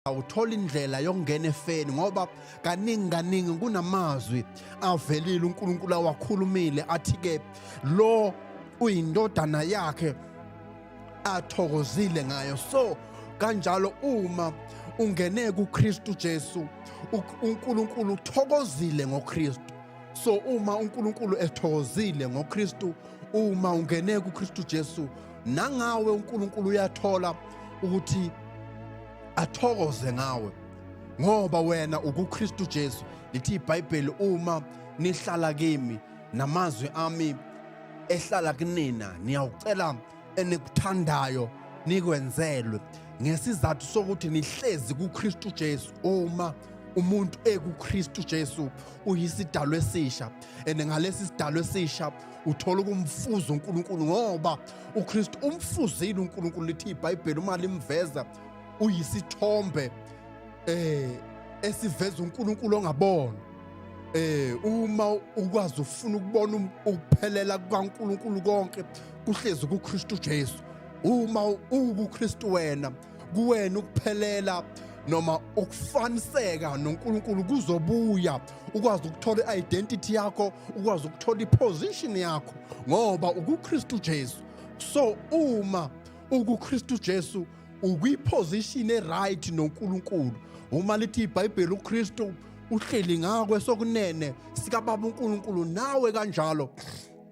awuthola indlela yokungena efeni ngoba kaningi kaningi kunamazwi avelile uNkulunkulu awakhulumile athi ke lo uyindodana yakhe athokozile ngayo so kanjalo uma ungene kuKristu Jesu uNkulunkulu uthokozile ngoKristu so uma uNkulunkulu ethokozile ngoKristu uma ungene kuKristu Jesu nangawe uNkulunkulu uyathola ukuthi athokoze ngawe ngoba wena ukuKristu Jesu lithi iBhayibheli uma nihlala kimi namazwi ami ehlala kunina niyawucela enikuthandayo nikwenzelwe ngesizathu sokuthi nihlezi kuKristu Jesu uma umuntu ekuKristu Jesu uyisidalwa esisha and ngalesi sidalwa esisha uthola ukumfuza uNkulunkulu ngoba uKristu umfuzile uNkulunkulu lithi iBhayibheli uma limveza uyisithombe eh esiveza uNkulunkulu ongabona eh uma ukwazi ufuna ukubona um, ukuphelela kukaNkulunkulu konke kuhlezi kuKristu Jesu uma ukuKristu wena kuwena ukuphelela noma ukufaniseka noNkulunkulu kuzobuya ukwazi ukuthola i-identity yakho ukwazi ukuthola i-position yakho ngoba ukukristu jesu so uma ukukristu jesu ukwiphozishini eright noNkulunkulu uma lithi iBhayibheli uKristu uhleli ngakwe sokunene sikababa uNkulunkulu nawe kanjalo